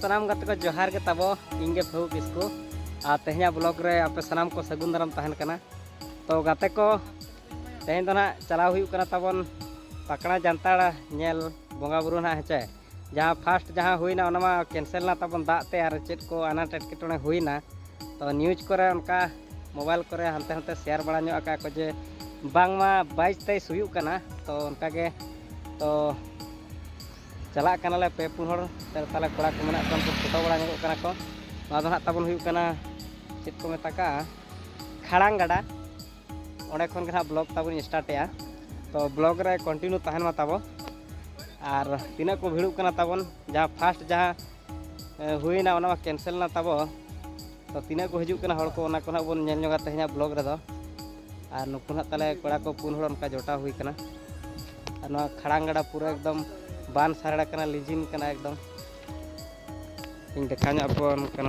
ᱥᱟᱱᱟᱢ ᱜᱟᱛᱮ ᱠᱚ ᱡᱚᱦᱟᱨ ᱜᱮ ᱛᱟᱵᱚ ᱤᱧ ᱜᱮ ᱯᱷᱟᱹᱜᱩ ᱠᱤᱥᱠᱩ ᱟᱨ ᱛᱮᱦᱮᱧᱟᱜ ᱵᱞᱚᱜ ᱨᱮ ᱟᱯᱮ ᱥᱟᱱᱟᱢ ᱠᱚ ᱥᱟᱹᱜᱩᱱ ᱫᱟᱨᱟᱢ ᱛᱟᱦᱮᱱ ᱠᱟᱱᱟ ᱛᱚ ᱜᱟᱛᱮ ᱠᱚ ᱛᱮᱦᱮᱧ ᱫᱚ ᱱᱟᱜ ᱪᱟᱞᱟᱣ ᱦᱩᱭᱩᱜ ᱠᱟᱱᱟ ᱛᱟᱵᱚᱱ ᱯᱟᱠᱲᱟ ᱡᱟᱱᱛᱟᱲ ᱧᱮᱞ ᱵᱚᱸᱜᱟ ᱵᱩᱨᱩ ᱱᱟᱜ ᱦᱮᱸᱪᱮ ᱡᱟᱦᱟᱸ ᱯᱷᱟᱥᱴ ᱡᱟᱦᱟᱸ ᱦᱩᱭᱱᱟ ᱚᱱᱟ ᱢᱟ ᱠᱮᱱᱥᱮᱞ ᱮᱱᱟ ᱛᱟᱵᱚᱱ ᱫᱟᱜ ᱛᱮ ᱟᱨ ᱪᱮᱫ ᱠᱚ ᱟᱱᱟᱴ ᱮᱴᱠᱮᱴᱚᱬᱮ ᱦᱩᱭᱱᱟ ᱛᱚ ᱱᱤᱭᱩᱡᱽ ᱠᱚᱨᱮ ᱚᱱᱠᱟ ᱢᱳᱵᱟᱭᱤᱞ ᱠᱚᱨᱮ ᱦᱟᱱᱛᱮ ᱦᱟᱱᱛᱮ ᱥᱮᱭᱟᱨ ᱵᱟᱲᱟ ᱧᱚᱜ ᱟᱠᱟᱫ ᱠᱚ ᱡᱮ ᱵᱟᱝᱢᱟ ᱵᱟᱭᱤᱥ ᱛᱮᱭᱤᱥ ᱦᱩᱭᱩᱜ ᱠᱟᱱᱟ ᱛᱚ ᱚᱱᱠᱟᱜᱮ ᱛᱚ ᱪᱟᱞᱟᱜ ᱠᱟᱱᱟᱞᱮ ᱯᱮ ᱯᱩᱱ ᱦᱚᱲ ᱛᱟᱦᱚᱞᱮ ᱠᱚᱲᱟ ᱠᱚ ᱢᱮᱱᱟᱜ ᱠᱚᱣᱟ ᱩᱱᱠᱩ ᱯᱷᱳᱴᱳ ᱵᱟᱲᱟ ᱧᱚᱜᱚᱜ ᱠᱟᱱᱟ ᱠᱚ ᱱᱚᱣᱟ ᱫᱚ ᱦᱟᱸᱜ ᱛᱟᱵᱚᱱ ᱦᱩᱭᱩᱜ ᱠᱟᱱᱟ ᱪᱮᱫ ᱠᱚ ᱢᱮᱛᱟᱜᱼᱟ ᱠᱷᱟᱲᱟᱝ ᱜᱟᱰᱟ ᱚᱸᱰᱮ ᱠᱷᱚᱱ ᱜᱮ ᱦᱟᱸᱜ ᱵᱞᱚᱜ ᱛᱟᱵᱚᱱ ᱥᱴᱟᱨᱴᱮᱜᱼᱟ ᱛᱚ ᱵᱞᱚᱜ ᱨᱮ ᱠᱚᱱᱴᱤᱱᱤᱭᱩ ᱛᱟᱦᱮᱱ ᱢᱟ ᱛᱟᱵᱚ ᱟᱨ ᱛᱤᱱᱟᱹᱜ ᱠᱚ ᱵᱷᱤᱲᱩᱜ ᱠᱟᱱᱟ ᱛᱟᱵᱚᱱ ᱡᱟᱦᱟᱸ ᱯᱷᱟᱥᱴ ᱡᱟᱦᱟᱸ ᱦᱩᱭᱱᱟ ᱚᱱᱟ ᱢᱟ ᱠᱮᱱᱥᱮᱞ ᱮᱱᱟ ᱛᱟᱵᱚ ᱛᱚ ᱛᱤᱱᱟᱹᱜ ᱠᱚ ᱦᱤᱡᱩᱜ ᱠᱟᱱᱟ ᱦᱚᱲ ᱠᱚ ᱚᱱᱟ ᱠᱚ ᱦᱟᱸᱜ ᱵᱚᱱ ᱧᱮᱞ ᱧᱚᱜᱟ ᱛᱮᱦᱮᱧᱟᱜ ᱵᱞᱚᱜ ᱨᱮᱫᱚ ᱟᱨ ᱱᱩᱠᱩ ᱦᱟᱸᱜ ᱛᱟᱞᱮ ᱠᱚᱲᱟ ᱠᱚ ᱯᱩᱱ ᱦᱚᱲ ᱚᱱᱠᱟ ᱡᱚᱴᱟᱣ ᱦᱩᱭ ᱠᱟᱱᱟ ᱟᱨ ᱱᱚᱣᱟ ᱠᱷᱟᱲᱟᱝ ᱜᱟᱰᱟ ᱯᱩᱨᱟᱹ ᱮᱠᱫᱚᱢ ᱵᱟᱱ ᱥᱟᱨᱮᱲ ᱠᱟᱱᱟ ᱞᱤᱡᱤᱱ ᱠᱟᱱᱟ ᱮᱠᱫᱚᱢ ᱤᱧ ᱫᱮᱠᱷᱟᱣ ᱧᱚᱜ ᱟᱠᱚᱣᱟ ᱚᱱᱠᱟᱱ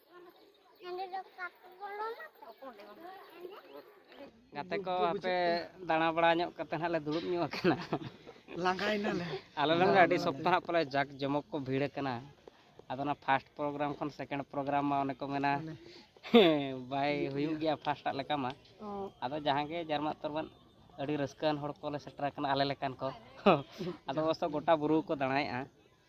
ᱜᱟᱛᱮ ᱠᱚ ᱟᱯᱮ ᱫᱟᱬᱟ ᱵᱟᱲᱟ ᱧᱚᱜ ᱠᱟᱛᱮ ᱦᱟᱸᱜ ᱞᱮ ᱫᱩᱲᱩᱵ ᱧᱚᱜ ᱟᱠᱟᱱᱟ ᱞᱟᱸᱜᱟᱭᱱᱟᱞᱮ ᱟᱞᱮ ᱞᱟᱸᱜᱟ ᱟᱹᱰᱤ ᱥᱚᱠᱛᱚ ᱦᱟᱸᱜ ᱯᱟᱞᱮ ᱡᱟᱠ ᱡᱚᱢᱚᱠ ᱠᱚ ᱵᱷᱤᱲ ᱟᱠᱟᱱᱟ ᱟᱫᱚ ᱚᱱᱟ ᱯᱷᱟᱥᱴ ᱯᱨᱳᱜᱨᱟᱢ ᱠᱷᱚᱱ ᱥᱮᱠᱮᱱᱰ ᱯᱨᱳᱜᱨᱟᱢ ᱢᱟ ᱚᱱᱮ ᱠᱚ ᱢᱮᱱᱟ ᱵᱟᱭ ᱦᱩᱭᱩᱜ ᱜᱮᱭᱟ ᱯᱷᱟᱥᱴᱟᱜ ᱞᱮᱠᱟ ᱢᱟ ᱟᱫᱚ ᱡᱟᱦᱟᱸ ᱜᱮ ᱡᱟᱨᱢᱟᱜ ᱛᱚᱨᱢᱟᱜ ᱟᱹᱰᱤ ᱨᱟᱹᱥᱠᱟᱹᱣᱟᱱ ᱦᱚᱲ ᱠᱚᱞᱮ ᱥᱮᱴᱮᱨ ᱟᱠᱟᱱᱟ ᱟᱞᱮ ᱞᱮᱠᱟᱱ ᱠᱚ ᱟᱫᱚ ᱚᱵᱚᱥᱥᱳᱭ ᱜᱚᱴᱟ ᱵᱩᱨᱩ ᱠᱚ ᱫᱟᱬᱟᱭᱮᱫᱼᱟ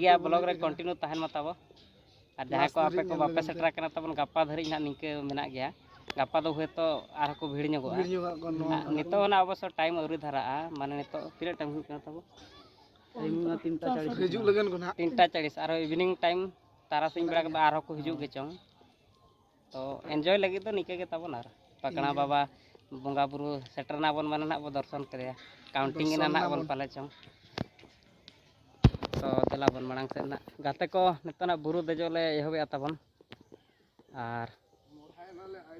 ᱜᱮᱭᱟ ᱵᱞᱚᱜ ᱨᱮ ᱠᱚᱱᱴᱤᱱᱤᱭᱩ ᱛᱟᱦᱮᱱ ᱢᱟ ᱛᱟᱵᱚ ᱟᱨ ᱡᱟᱦᱟᱸᱭ ᱠᱚ ᱟᱯᱮ ᱠᱚ ᱵᱟᱯᱮ ᱥᱮᱴᱮᱨ ᱟᱠᱟᱱᱟ ᱛᱟᱵᱚᱱ ᱜᱟᱯᱟ ᱫᱷᱟᱹᱨᱤᱡ ᱦᱟᱸᱜ ᱱᱤᱝᱠᱟᱹ ᱢᱮᱱᱟᱜ ᱜᱮᱭᱟ ᱜᱟᱯᱟ ᱫᱚ ᱦᱳᱭᱛᱳ ᱟᱨᱦᱚᱸ ᱠᱚ ᱵᱷᱤᱲ ᱧᱚᱜᱚᱜᱼᱟ ᱱᱤᱛᱚᱜ ᱚᱱᱟ ᱚᱵᱚᱥᱥᱚ ᱴᱟᱭᱤᱢ ᱟᱹᱣᱨᱤ ᱫᱷᱟᱨᱟᱜᱼᱟ ᱢᱟᱱᱮ ᱱᱤᱛᱚᱜ ᱛᱤᱱᱟᱹᱜ ᱴᱟᱭᱤᱢ ᱦᱩᱭᱩᱜ ᱠᱟᱱᱟ ᱛᱟᱵᱚ ᱛᱤᱱᱴᱟ ᱪᱟᱲᱤᱥ ᱦᱤᱡᱩᱜ ᱞᱟᱹᱜᱤᱫ ᱠᱚ ᱦᱟᱸᱜ ᱛᱤᱱᱴᱟ ᱪᱟᱲᱤᱥ ᱟᱨᱦᱚᱸ ᱤᱵᱷᱤᱱᱤᱝ ᱴᱟᱭᱤᱢ ᱛᱟᱨᱟᱥᱤᱧ ᱵᱮᱲᱟ ᱠᱚᱫᱚ ᱟᱨᱦᱚᱸ ᱠᱚ ᱦᱤᱡᱩᱜ ᱜᱮᱪᱚᱝ ᱛᱚ ᱮᱱᱡᱚᱭ ᱞᱟᱹᱜᱤᱫ ᱫᱚ ᱱᱤᱝᱠᱟᱹ ᱜᱮ ᱛᱟᱵᱚᱱ ᱟᱨ ᱯᱟᱠᱲᱟ ᱵᱟᱵᱟ ᱵᱚᱸᱜᱟ ᱵᱩᱨᱩ ᱥᱮᱴᱮᱨ ᱮᱱᱟ ᱵᱚᱱ ᱢᱟᱱᱮ ᱱᱟᱜ ᱵᱚᱱ ᱫᱚᱨᱥᱚᱱ ᱠᱮᱫᱮᱭᱟ ᱠᱟᱣᱩᱱᱴᱤᱝ ᱮᱱᱟ ᱱᱟᱜ ᱵᱚᱱ ᱯᱟᱞᱮ ᱪᱚᱝ ᱛᱚ ᱫᱮᱞᱟ ᱵᱚᱱ ᱢᱟᱲᱟᱝ ᱥᱮᱫ ᱱᱟᱜ ᱜᱟᱛᱮ ᱠᱚ ᱱᱤᱛᱚᱜ ᱵᱩᱨᱩ ᱫᱮᱡᱚᱜ ᱞᱮ ᱮᱦᱚᱵᱮᱜᱼᱟ ᱛᱟᱵᱚᱱ ᱟᱨ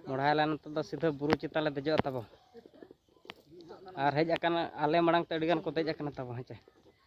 ᱢᱚᱲᱦᱟᱭ ᱞᱟᱭ ᱱᱤᱛᱚᱜ ᱫᱚ ᱥᱤᱫᱷᱟᱹ ᱵᱩᱨᱩ ᱪᱮᱛᱟᱱ ᱞᱮ ᱫᱮᱡᱚᱜᱼᱟ ᱛᱟᱵᱚᱱ ᱟᱨ ᱦᱮᱡ ᱟᱠᱟᱱᱟ ᱟᱞᱮ ᱢᱟᱲᱟᱝ ᱛᱮ ᱟᱹᱰᱤ ᱜᱟᱱ ᱠᱚ ᱫᱮᱡ ᱟᱠᱟᱱᱟ ᱛᱟᱵᱚᱱ ᱦᱮᱸ ᱪᱮ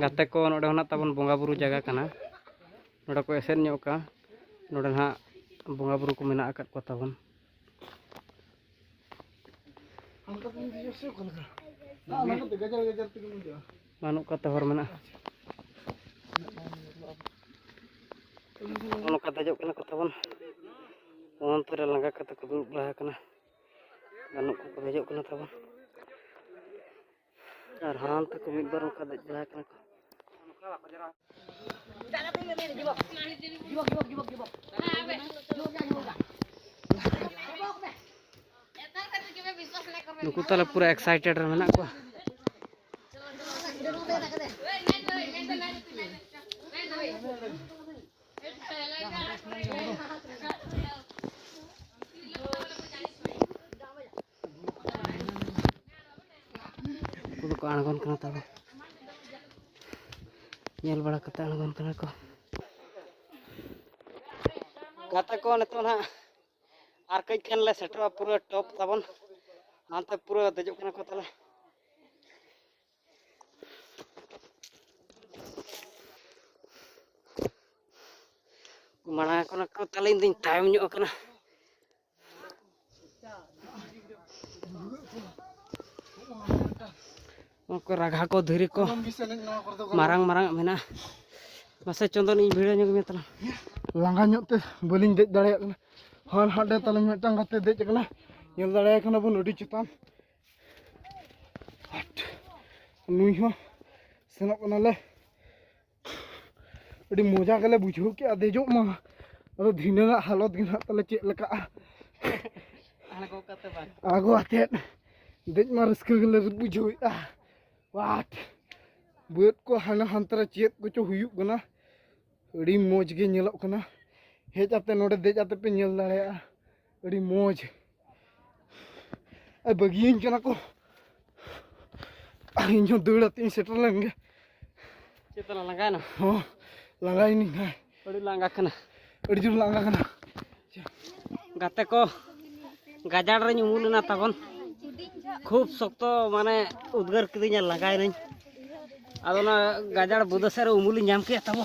ᱜᱟᱛᱮ ᱠᱚ ᱱᱚᱰᱮ ᱦᱚᱸ ᱛᱟᱵᱚᱱ ᱵᱚᱸᱜᱟ ᱵᱩᱨᱩ ᱡᱟᱭᱜᱟ ᱠᱟᱱᱟ ᱱᱚᱰᱮ ᱠᱚ ᱮᱥᱮᱫ ᱧᱚᱜ ᱠᱟᱜᱼᱟ ᱱᱚᱰᱮ ᱱᱟᱦᱟᱜ ᱵᱚᱸᱜᱟ ᱵᱩᱨᱩ ᱠᱚ ᱢᱮᱱᱟᱜ ᱟᱠᱟᱫ ᱠᱚ ᱛᱟᱵᱚᱱ ᱵᱟᱹᱱᱩᱜ ᱠᱟᱛᱮ ᱦᱚᱨ ᱢᱮᱱᱟᱜᱼᱟ ᱱᱚᱝᱠᱟ ᱫᱮᱡᱚᱜ ᱠᱟᱱᱟ ᱠᱚ ᱛᱟᱵᱚᱱ ᱚᱱᱛᱮ ᱨᱮ ᱞᱟᱸᱜᱟ ᱠᱟᱛᱮ ᱠᱚ ᱫᱩᱲᱩᱵ ᱵᱟᱲᱟ ᱟᱠᱟᱱᱟ ᱵᱟᱹᱱᱩᱜ ᱠᱚᱠᱚ ᱫᱮᱡᱚᱜ ᱠᱟᱱᱟ ᱛᱟᱵᱚᱱ ᱟᱨ ᱦᱟᱱ ᱛᱮᱠᱚ ᱢᱤᱫ ᱵᱟᱨ ᱚᱱᱠᱟ ᱫᱮᱡ ᱵᱟᱲᱟ ᱠᱟᱱᱟ ᱠᱚ ᱱᱩᱠᱩ ᱛᱟᱦᱚᱞᱮ ᱯᱩᱨᱟᱹ ᱮᱠᱥᱟᱭᱴᱮᱰ ᱨᱮ ᱢᱮᱱᱟᱜ ᱠᱚᱣᱟ ᱩᱱᱠᱩ ᱫᱚᱠᱚ ᱟᱬᱜᱚᱱ ᱠᱟᱱᱟ ᱛᱟᱵᱚ ᱧᱮᱞ ᱵᱟᱲᱟ ᱠᱟᱛᱮ ᱟᱬᱜᱚᱱ ᱠᱟᱱᱟ ᱠᱚ ᱜᱟᱛᱮ ᱠᱚ ᱱᱤᱛᱚᱜ ᱱᱟᱦᱟᱜ ᱟᱨ ᱠᱟᱹᱡ ᱠᱷᱟᱱ ᱞᱮ ᱥᱮᱴᱮᱨᱚᱜᱼᱟ ᱯᱩᱨᱟᱹ ᱴᱚᱯ ᱛᱟᱵᱚᱱ ᱦᱟᱱᱛᱮ ᱯᱩᱨᱟᱹ ᱫᱮᱡᱚᱜ ᱠᱟᱱᱟ ᱠᱚ ᱛᱟᱦᱚᱞᱮ ᱢᱟᱲᱟᱝ ᱠᱟᱱᱟ ᱠᱚ ᱛᱟᱦᱚᱞᱮ ᱤᱧ ᱫᱩᱧ ᱛᱟᱭᱚᱢ ᱧᱚᱜ ᱠᱟᱱᱟ ᱱᱚᱣᱟ ᱨᱟᱜᱷᱟ ᱠᱚ ᱫᱷᱤᱨᱤ ᱠᱚ ᱢᱟᱨᱟᱝ ᱢᱟᱨᱟᱝ ᱢᱮᱱᱟᱜᱼᱟ ᱢᱟᱥᱮ ᱪᱚᱱᱫᱚᱱ ᱤᱧ ᱵᱷᱤᱲᱟᱹ ᱧᱚᱜ ᱢᱮ ᱛᱟᱞᱟᱝ ᱞᱟᱸᱜᱟ ᱧᱚᱜ ᱛᱮ ᱵᱟᱹᱞᱤᱧ ᱫᱮᱡ ᱫᱟᱲᱮᱭᱟᱜ ᱠᱟᱱᱟ ᱦᱚᱱ ᱦᱟᱸᱰᱮ ᱛᱟᱞᱤᱧ ᱢᱤᱫᱴᱟᱝ ᱜᱟᱛᱮ ᱫᱮᱡ ᱠᱟᱱᱟ ᱧᱮᱞ ᱫᱟᱲᱮᱭᱟᱭ ᱠᱟᱱᱟ ᱵᱚᱱ ᱟᱹᱰᱤ ᱪᱮᱛᱟᱱ ᱱᱩᱭ ᱦᱚᱸ ᱥᱮᱱᱚᱜ ᱠᱟᱱᱟᱞᱮ ᱟᱹᱰᱤ ᱢᱚᱡᱟ ᱜᱮᱞᱮ ᱵᱩᱡᱷᱟᱹᱣ ᱠᱮᱫᱼᱟ ᱫᱮᱡᱚᱜ ᱢᱟ ᱟᱫᱚ ᱫᱷᱤᱱᱟᱹᱱᱟᱜ ᱦᱟᱞᱚᱛ ᱜᱮ ᱱᱟᱦᱟᱜ ᱛᱟᱞᱮ ᱪᱮᱫ ᱞᱮᱠᱟᱜᱼᱟ ᱟᱬᱜᱚ ᱠᱟᱛᱮ ᱵᱟᱝ ᱟᱬᱜᱚ ᱟᱛᱮᱫ ᱫᱮᱡ ᱢᱟ ᱨᱟᱹᱥᱠᱟᱹ ᱜᱮᱞᱮ ᱵᱩᱡᱷᱟᱹᱣᱮᱫᱼᱟ ᱣᱟᱴ ᱵᱟᱹᱫᱽ ᱠᱚ ᱦᱟᱱᱟ ᱦᱟᱱᱛᱮ ᱨᱮ ᱪᱮᱫ ᱠᱚᱪᱚ ᱦᱩᱭᱩᱜ ᱠᱟᱱᱟ ᱟᱹᱰᱤ ᱢᱚᱡᱽ ᱜᱮ ᱧᱮᱞᱚᱜ ᱠᱟᱱᱟ ᱦᱮᱡ ᱟᱛᱮ ᱱᱚᱰᱮ ᱫᱮᱡ ᱟᱛᱮ ᱯᱮ ᱧᱮᱞ ᱫᱟᱲᱮᱭᱟᱜᱼᱟ ᱟᱹᱰᱤ ᱢᱚᱡᱽ ᱟᱨ ᱵᱟᱹᱜᱤᱭᱟᱹᱧ ᱠᱟᱱᱟ ᱠᱚ ᱟᱨ ᱤᱧ ᱦᱚᱸ ᱫᱟᱹᱲ ᱟᱛᱮ ᱤᱧ ᱥᱮᱴᱮᱨ ᱞᱮᱱ ᱜᱮ ᱪᱮᱫ ᱛᱟᱞᱟᱝ ᱞᱟᱸᱜᱟᱭᱮᱱᱟ ᱦᱚᱸ ᱞᱟᱸᱜᱟᱭᱮᱱᱟᱹᱧ ᱦᱟᱸᱜ ᱟᱹᱰᱤ ᱞᱟᱸᱜᱟ ᱠᱟᱱᱟ ᱟᱹᱰᱤ ᱡᱳᱨ ᱞᱟᱸᱜᱟ ᱠᱟᱱᱟ ᱜᱟᱛᱮ ᱠᱚ ᱜᱟᱡᱟᱲ ᱨᱮᱧ ᱩᱢᱩᱞ ᱞᱮᱱᱟ ᱛᱚᱠᱷᱚᱱ ᱠᱷᱩᱵ ᱥᱚᱠᱛᱚ ᱢᱟᱱᱮ ᱩᱫᱽᱜᱟᱹᱨ ᱠᱤᱫᱤᱧᱟ ᱞᱟᱸᱜᱟᱭᱮᱱᱟᱹᱧ ᱟᱫᱚ ᱚᱱᱟ ᱜᱟᱡᱟᱲ ᱵᱩᱫᱟᱹ ᱥᱮᱫ ᱨᱮ ᱩᱢᱩᱞᱤᱧ ᱧᱟᱢ ᱠᱮᱫᱟ ᱛᱟᱵᱚ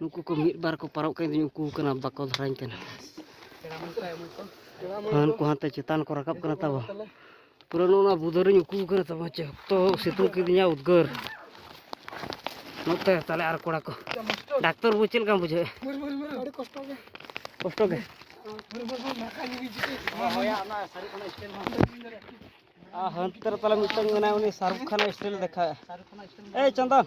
ᱱᱩᱠᱩ ᱠᱚ ᱢᱤᱫ ᱵᱟᱨ ᱠᱚ ᱯᱟᱨᱚᱜ ᱠᱟᱱ ᱛᱤᱧ ᱩᱠᱩ ᱠᱟᱱᱟ ᱵᱟᱠᱚ ᱫᱷᱟᱨᱟᱧ ᱠᱟᱱᱟ ᱦᱟᱱᱠᱩ ᱦᱟᱱᱛᱮ ᱪᱮᱛᱟᱱ ᱠᱚ ᱨᱟᱠᱟᱵ ᱠᱟᱱᱟ ᱛᱟᱵᱚ ᱯᱩᱨᱟᱹ ᱱᱚᱣᱟ ᱵᱩᱫᱷᱟᱹᱨᱤᱧ ᱩᱠᱩ ᱠᱟᱱᱟ ᱛᱟᱵᱚ ᱪᱮ ᱚᱠᱛᱚ ᱥᱤᱛᱩᱝ ᱠᱤᱫᱤᱧᱟ ᱩᱫᱽᱜᱟᱹᱨ ᱱᱚᱛᱮ ᱛᱟᱦᱞᱮ ᱟᱨ ᱠᱚᱲᱟ ᱠᱚ ᱰᱟᱠᱛᱚᱨ ᱵᱩ ᱪᱮᱫ ᱞᱮᱠᱟᱢ ᱵᱩᱡᱷᱟᱹᱣᱮᱫ ᱠᱚᱥᱴᱚ ᱜᱮ ᱦᱟᱱᱛᱮ ᱨᱮ ᱛᱟᱦᱞᱮ ᱢᱤᱫᱴᱟᱝ ᱢᱮᱱᱟᱭᱟ ᱩᱱᱤ ᱥᱟᱨᱩᱠ ᱠᱷᱟᱱ ᱥᱴᱤᱞ ᱫᱮᱠᱷᱟᱣᱮᱫᱼᱟ ᱮᱭ ᱪᱚᱱᱫᱚᱱ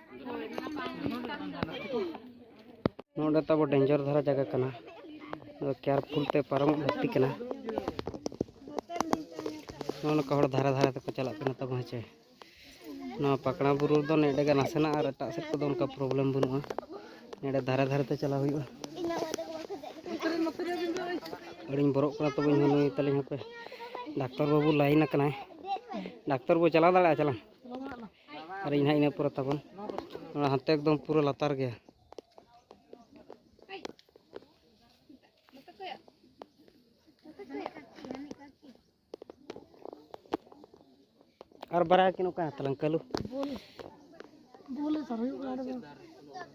ᱱᱚᱰᱮ ᱛᱟᱵᱚ ᱰᱮᱧᱡᱚᱨ ᱫᱷᱟᱨᱟ ᱡᱟᱭᱜᱟ ᱠᱟᱱᱟ ᱠᱮᱭᱟᱨᱯᱷᱩᱞ ᱛᱮ ᱯᱟᱨᱚᱢᱚᱜ ᱞᱟᱹᱠᱛᱤ ᱠᱟᱱᱟ ᱱᱚᱜᱼᱚ ᱱᱚᱝᱠᱟ ᱦᱚᱲ ᱫᱷᱟᱨᱮ ᱫᱷᱟᱨᱮ ᱛᱮᱠᱚ ᱪᱟᱞᱟᱜ ᱠᱟᱱᱟ ᱛᱟᱵᱚ ᱦᱮᱸᱪᱮ ᱱᱚᱣᱟ ᱯᱟᱠᱲᱟ ᱵᱩᱨᱩ ᱨᱮᱫᱚ ᱱᱮᱰᱮ ᱜᱮ ᱱᱟᱥᱮᱱᱟᱜ ᱟᱨ ᱮᱴᱟᱜ ᱥᱮᱫ ᱠᱚᱫᱚ ᱚᱱᱠᱟ ᱯᱨᱚᱵᱞᱮᱢ ᱵᱟᱹᱱᱩᱜᱼᱟ ᱱᱮᱰᱮ ᱫᱷᱟᱨᱮ ᱫᱷᱟᱨᱮ ᱛᱮ ᱪᱟᱞᱟᱣ ᱦᱩᱭᱩᱜᱼᱟ ᱟᱹᱰᱤᱧ ᱵᱚᱨᱚᱜ ᱠᱟᱱᱟ ᱛᱚᱵᱮ ᱤᱧ ᱱᱩᱭ ᱛᱟᱹᱞᱤᱧ ᱦᱟᱯᱮ ᱰᱟᱠᱛᱚᱨ ᱵᱟᱹᱵᱩ ᱞᱟᱭᱤᱱ ᱟᱠᱟᱱᱟᱭ ᱰᱟᱠᱛᱚᱨ ᱵᱟᱹᱵᱩ ᱪᱟᱞᱟᱣ ᱫᱟᱲᱮᱭᱟᱜᱼᱟ ᱪᱟᱞᱟᱝ ᱟᱨ ᱤᱧ ᱦᱟᱸᱜ ᱤᱱᱟᱹ ᱯᱚᱨᱮ ᱛᱟᱵᱚᱱ ᱚᱱᱟ ᱦᱟᱱᱛᱮ ᱮᱠᱫᱚᱢ ᱯᱩᱨᱟᱹ ᱞᱟᱛᱟᱨ ᱜᱮᱭᱟ ᱟᱨ ᱵᱟᱨᱭᱟ ᱠᱤᱱ ᱚᱠᱟ ᱛᱟᱞᱟᱝ ᱠᱟᱹᱞᱩ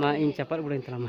ᱢᱟ ᱤᱧ ᱪᱟᱯᱟᱫ ᱜᱩᱲᱟᱹᱧ ᱛᱟᱞᱟᱝ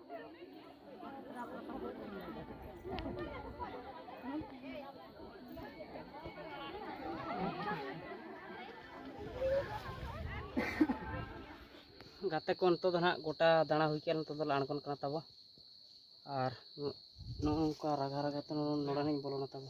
ᱜᱟᱛᱮ ᱠᱚ ᱱᱤᱛᱚᱜ ᱫᱚ ᱱᱟᱦᱟᱜ ᱜᱚᱴᱟ ᱫᱟᱬᱟ ᱦᱩᱭ ᱠᱮᱫᱟ ᱱᱤᱛᱚᱜ ᱫᱚᱞᱮ ᱟᱬᱜᱚᱱ ᱠᱟᱱᱟ ᱛᱟᱵᱚ ᱟᱨ ᱱᱚᱜᱼᱚ ᱱᱚᱝᱠᱟ ᱨᱟᱜᱟ ᱨᱟᱜᱟ ᱛᱮ ᱱᱚᱰᱮ ᱱᱟᱧ ᱵᱚᱞᱚᱱᱟ ᱛᱟᱵᱚ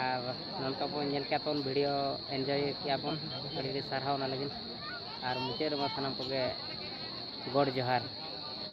ᱟᱨ ᱱᱚᱝᱠᱟ ᱵᱚᱱ ᱧᱮᱞ ᱠᱮᱫ ᱵᱚᱱ ᱵᱷᱤᱰᱤᱭᱳ ᱮᱱᱡᱚᱭ ᱠᱮᱫ ᱵᱚᱱ ᱟᱹᱰᱤ ᱟᱹᱰᱤ ᱥᱟᱨᱦᱟᱣ ᱚᱱᱟ ᱞᱟᱹᱜᱤᱫ ᱟᱨ ᱢᱩᱪᱟᱹᱫ ᱨᱮᱢᱟ ᱥᱟᱱᱟᱢ ᱠᱚᱜᱮ ᱜᱚᱰ ᱡᱚᱦᱟᱨ